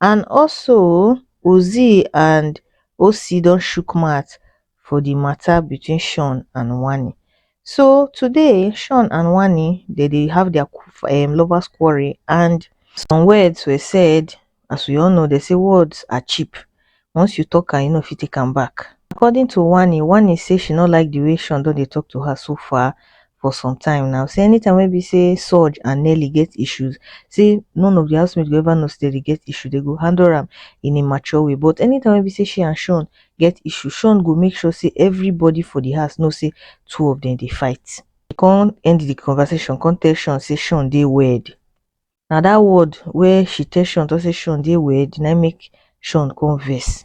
and also ozee and osi don chook mouth for di mata between shawn and wanni so today shawn and wanni dem dey have dia um lovers quarrel and some words were said as we all know dem say words are cheap once you talk am you no fit take am back. According to Wanni, Wanni say she no like the way Sean don dey talk to her so far for some time now, say anytime wey be say Sooj and Nelly get issues, say none of the housemates go ever know say dem dey get issue, dem go handle am in a mature way but anytime wey be say she and Sean get issue, Sean go make sure say everybody for the house know say two of dem dey fight. She come end the conversation come tell Sean say Sean dey weird. na that word wey she tell sean talk say sean dey weird na im make sean come vex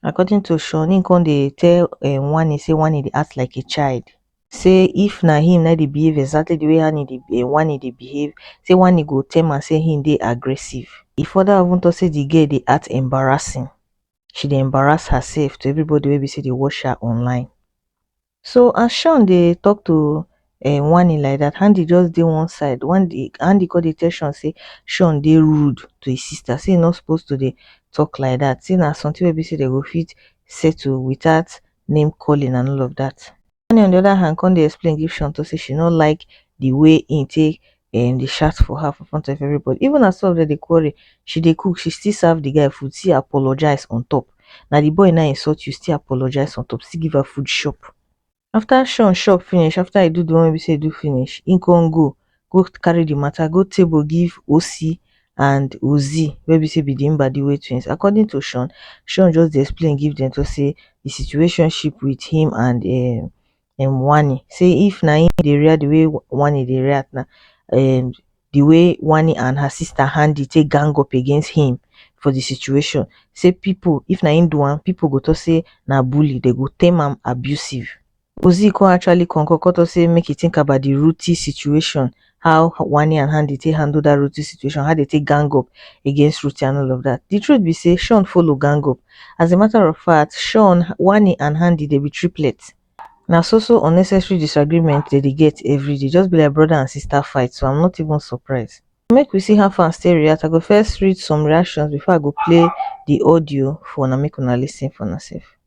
according to sean im come dey tell um wanni say wanni dey act like a child say if na him na dey behave exactly the way hanni dey um wanni dey behave say wanni go term am say him dey aggressive e further even talk say the girl dey act embarrassing she dey embarrass herself to everybody wey be say dey watch her online so as shawn dey talk to um wanni like dat handi just dey one side wanni handi come dey tell shawn say shawn dey rude to his sister say e no suppose to dey talk like dat say na something wey be say dem go fit settle without name calling and all of dat wanni on the other hand come dey explain give shawn talk say she no like the way im take um dey shout for her for front of everybody even as some of them dey quarrel she dey cook she still serve the guy food still apologize on top na the boy na insult you still apologize on top still give her food chop after shawn chop finish after e do the one wey be say e do finish e come go go carry the matter go table give Osi and Ozee wey be say be the Mbadiwe twins according to shawn shawn just dey explain give them talk say the situationship with him and um um wani say if na him dey react the way wani dey react na um the way wani and her sister handi take gang up against him for the situation say people if na him do am people go talk say na bully dem go term am abusive. Ozee come actually concur come talk say make he think about the Ruthie situation how Wani and Handi take handle that Ruthie situation, how they take gang up against Ruthie and all of that. The truth be say Sean follow gang up. As a matter of fact, Sean, Wani and Handi they be triplets. Now, so so unnecessary disagreement that they get every day just be like brother and sister fight so i'm not even surprised make we see how fans stay react i go first read some reactions before i go play the audio for una make una lis ten for myself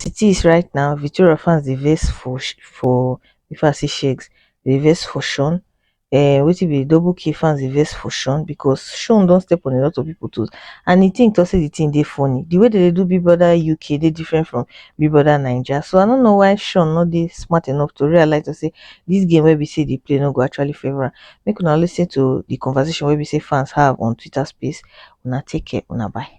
as it is right now victoria fans dey vex for for if i say sheggz dem dey vex for sean um wetin be double k fans dey vex for sean because sean don step on a lot of people toes and the thing talk say the thing dey funny the way dem dey do big brother uk dey different from big brother naija so i no know why sean no dey smart enough to realize to say this game wey be say e dey play no go actually favour am make una listen to the conversation wey be say fans have on twitter space una take care una bye.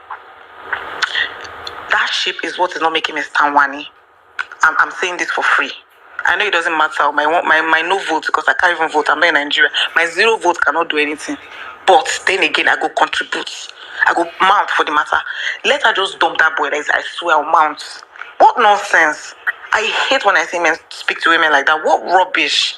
That shape is what is not making me stand Wani. I'm, I'm saying this for free. I know it doesn't matter. My my my no vote because I can't even vote. I'm not in Nigeria. My zero vote cannot do anything. But then again, I go contribute. I go mount for the matter. Let her just dump that boy. Like, I swear I'll mount. What nonsense. I hate when I see men speak to women like that. What rubbish.